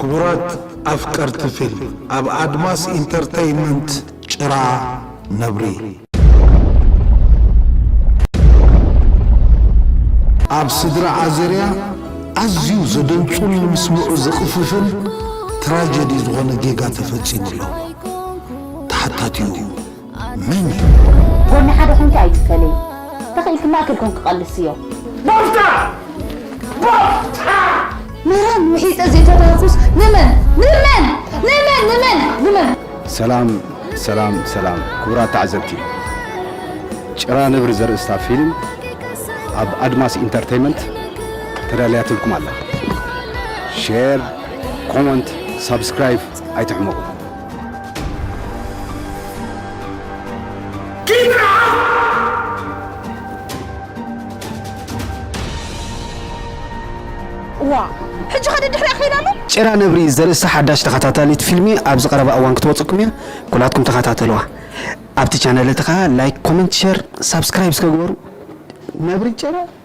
ክቡራት ኣፍቀርቲ ፊልም ኣብ ኣድማስ ኢንተርተይመንት ጭራ ነብሪ ኣብ ስድራ ኣዜርያ ኣዝዩ ዘደንጹን ምስምዑ ዝቕፍፍን ትራጀዲ ዝኾነ ጌጋ ተፈጺሙ ኣሎ ተሓታቲኡ መን እዩ? ጎኒ ሓደ ኮንኪ ኣይትፈለይ ተኺኢልኪ ማእከል ኮንኪ ቀልስዮ። ባፍታ ባፍታ መራን ውሒጠ ዘይተዳርኩስ ንመን ንመን ንመን ንመን ንመን ሰላም ሰላም ሰላም ክቡራት ተዓዘብቲ ጭራ ነብሪ ዘርእስታ ፊልም ኣብ ኣድማስ ኢንተርቴይመንት ተዳልያትልኩም ኣላ ሼር ኮመንት ሳብስክራይብ ኣይትሕመቑ እዋ ሕጂ ከ ደድሕሪ ኣኺል ኣሎ ጭራ ነብሪ ዘርእስታ ሓዳሽ ተኸታታሊት ፊልሚ ኣብዚ ቀረባ እዋን ክትወጽኩም እያ ኩላትኩም ተኸታተልዋ ኣብቲ ቻነል እቲ ከኣ ላይክ ኮመንት ሸር ሳብስክራይብ እስከ ግበሩ ነብሪ ጭራ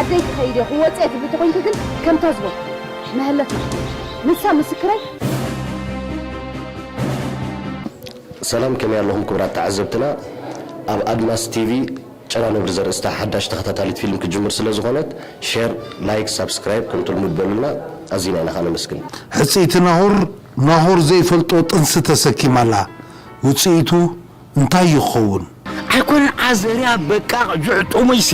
ዓደይ ክኸይድ እየ ክወጽእ እየ ትብሊ ተኾይንኪ ግን ከምታ ዝበልኩ መሀለፍ ንኽትወስዲ ንሳ ምስክረይ ሰላም ከመይ ኣለኹም ክቡራት ተዓዘብትና ኣብ ኣድማስ ቲቪ ጨና ነብሪ ዘርእስታ ሓዳሽ ተኸታታሊት ፊልም ክትጅምር ስለ ዝኾነት ሼር ላይክ ሳብስክራይብ ከምቲ ልሙድ በሉልና ኣዚና ኢና ከኣ ነመስግን ሕጽይቲ ናሆር ናሆር ዘይፈልጦ ጥንሲ ተሰኪማ ኣላ ውጽኢቱ እንታይ እዩ ክኸውን? ኣይኮነን ዓዘርያ በቃቅ ጁዕ ጥሙይ ሲ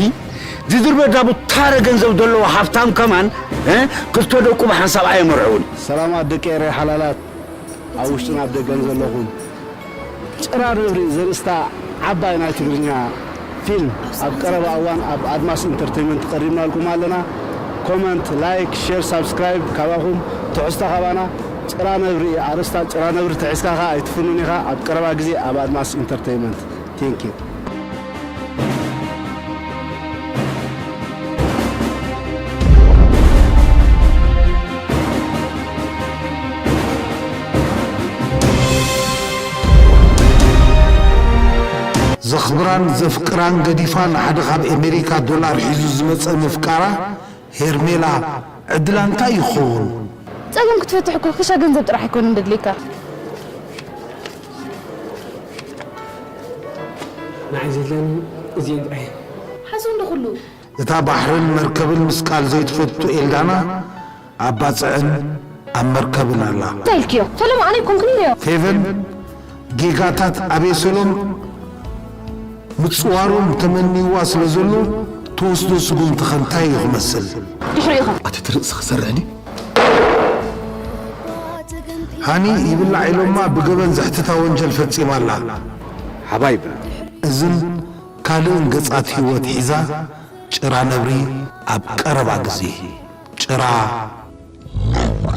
ዝድርበ ዳቡ ታረ ገንዘብ ደለዎ ሃፍታም ከማን ክልተ ደቁ ብሓንሳብ ኣየመርዕውን። ሰላማት ደቂ ኤረይ ሓላላት ኣብ ውሽጥን ኣብ ደገን ዘለኹም። ጭራ ነብሪ ዘርእስታ ዓባይ ናይ ትግርኛ። ፊልም ኣብ ቀረባ እዋን ኣብ ኣድማስ ኢንተርተይመንት ቀሪብናልኩም ኣለና ኮመንት ላይክ ሼር ሳብስክራይብ ካባኹም ትሕዝቶ ካባና ጭራ ነብሪ እዩ ኣርእስታ ጭራ ነብሪ ተሒዝካ ከኣ ኣይትፍኑን ኢኻ ኣብ ቀረባ ግዜ ኣብ ኣድማስ ኢንተርተይመንት thank you። ዘኽብራን ዘፍቅራን ገዲፋ ንሓደ ካብ ኤመሪካ ዶላር ሒዙ ዝመጸ መፍቃራ ሄርሜላ ዕድላ እንታይ እዩ ክኸውን? ጸገም ክትፈትሕ እኮ ክሻ ገንዘብ ጥራሕ ኣይኮነን ደድልየካ። ንዓይ ዘድልያኒ እዚኤን ጥራሕ እየን። ሓሶ እንዶ ኩሉ እታ ባሕርን መርከብን ምስቃል ዘይትፈቱ ኤልዳና ኣብ ባጽዕን ኣብ መርከብን ኣላ። እንታይ ኢልክዮ ፈለማ ኣነ ኣይኮንኩን ኢለዮ። ፌቨን ጌጋታት ኣቤሴሎም ምጽዋሮም ተመንይዋ ስለ ዘሎ ትወስዶ ስጉምቲ ከ እንታይ እዩ ክመስል? ድሕሪኡ ከ? ኣቲ እቲ ርእሲ ክሰርዕኒ። ሃኒ ይብላዕ ኢሎማ ብገበን ዘሕትታ ወንጀል ፈጺማ ኣላ። ሓባይብ እዝን ካልእን ገጻት ህይወት ሒዛ ጭራ ነብሪ ኣብ ቀረባ ግዜ ጭራ ነብሪ።